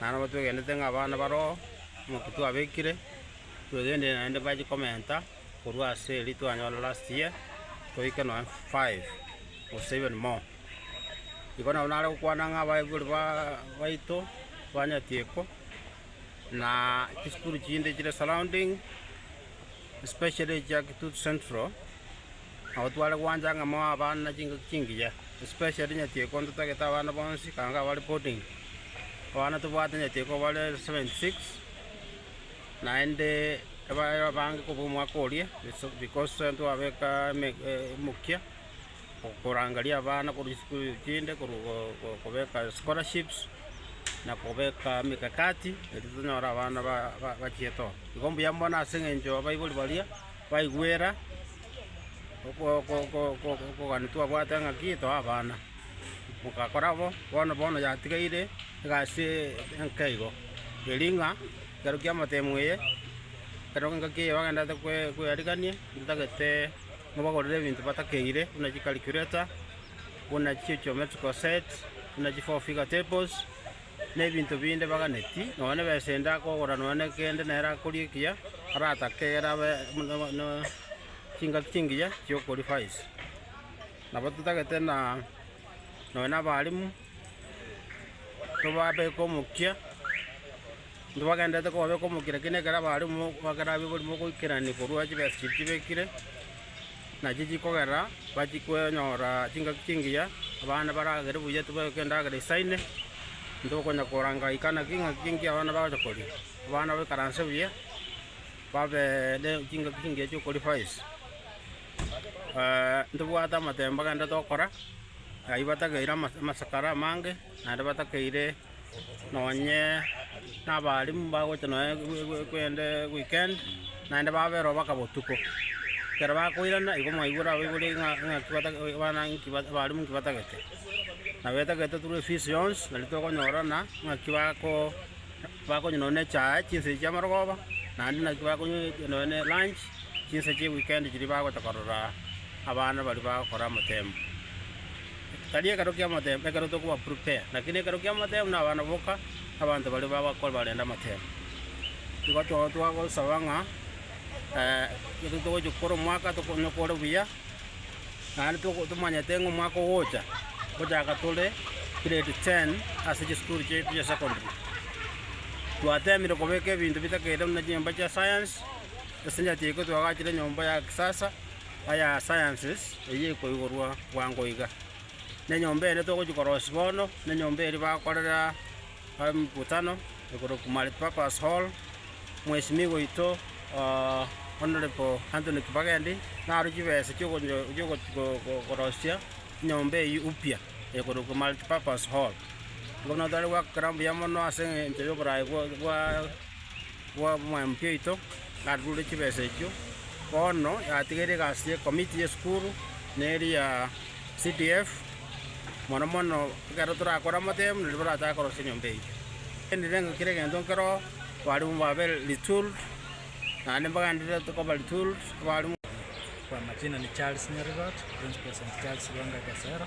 Naende nabo twegenete ng'a abana baroo, omokia twabekire, twegenire naende bachie komenta korwa ase eria twanyora last year, toike nonye five, gose even more. Igo nabo nare gokwana ng'a abaibori baa baito, banyetieko, na chisukuru chinde chire surrounding, especially echia kitutu central. Nabo tware gwancha ng'a moe abana na chingaki chingiya, especially nyetieko ntotagete abana bonsi ekanga abare boarding. Abana tobwate nyetieko bare seventy six, naende ebae abange kobua omwaka oria ase because ntwabeka eme emokia okorangeria abana korwa chisukuru chinde korwa go kobeka scholarships, na kobeka emekakati eri tonyore abana ba- ba- bachiete oo. Igo mbuya mono ase eng'encho abaibori baria. Baigwera okogania twabwate ng'aki toe abana, mogakora bo, bono bono yatigaire egasi enke igo, eri ng'a ekero kia amatemo eye, ekero engaki eye bagenderete koyarigania, ntagete nabagorere ebinto batakeire, buna chicalculator, buna chigeometrical set, buna chifour figure tables. na ebinto binde baganeti, nonya nebesa ende akogora nonya ne kende nere akoria ekiya, aratake egere abe na chingaki chingiya chi'okoria faiz. Nabo totagete na nonya na abalimu, tobabeke omokia, intwe bagendererete kobabeka omokia, rakini ekero abalimu bakerabe oborimo ogoikerania korwa chibesa chiria chibekire. Nachi chikogera bachie konyora chingaki chingiya, abana baragere buya tibayoka endagera esaine, ntokonya koranga ika naki ingaki chingiya abana bagocha koria. Abana baikaranse buya, babe ne chingaki chingiya chiokoria faizi. ntibwate amatemba gende tokora, ayio batakeire ama- amasakara amange, naende batakeire. nonye nabarimu mbagocha nonye kende weekend, naende baberwa baka botuko. Ekero bakoirana igo mwaigure abaibori ng'a ng'aki bata abana nki bata abarimu nki batagete. Na betagete turu efees yonsi nari tokonyorana ng'aki bako bakonywa nonye na echae chinsa echi chia amarogoba, naende naki bakonywa nonye na elunch chinsa chia weekend chiria bagocha korora abana baria bagokora amatemo. Tari ekero ki'amatemo, ekero tokobaprepare, lakini ekero ki'amatemo na abana boka, abanto baria bagokora barende amatemo. Nigo to- twagosaba ng'a ekero togochia gokora omwaka tokonyokore buya, naende toko- tomanyete ng'a omwaka ogocha, togochaka tore grade ten ase chisukuru chiaito chia secondary. Twatemire kobeka ebinto bitakeire buna chinyomba chia science, esinyachiiko twagachire nyomba ya kisasa. aya sciences eye ekoigorwa bwango iga. Ne enyomba eye netogochia korosia bono, ne enyomba eria bakorera emekutano ekorokwa multipurpose hall, mwesimigwa oito oo Honourable Anthony Kibagendi narwo chibesa chiokonyo chioko ko- korosia enyomba eyi upya ekorokwa multipurpose hall. Bono tari goakera mbuya mono ase eng'encho yoborae bwa bwa. bw'omwemke oito narure chibesa echio. Bono yatigeire egasi y'ekomiti y'esukuru, na eria ya CDF, mono mono ekero torakore amatemu nario baratake korosia enyomba eyio. Ngenderere ng'a kera egento nkero abarimu babe retooled, naende mbagenderere koba retooled abarimu. Kwa majina ni Charles Nyarigot, Principal St. Charles Lwenga Gasera.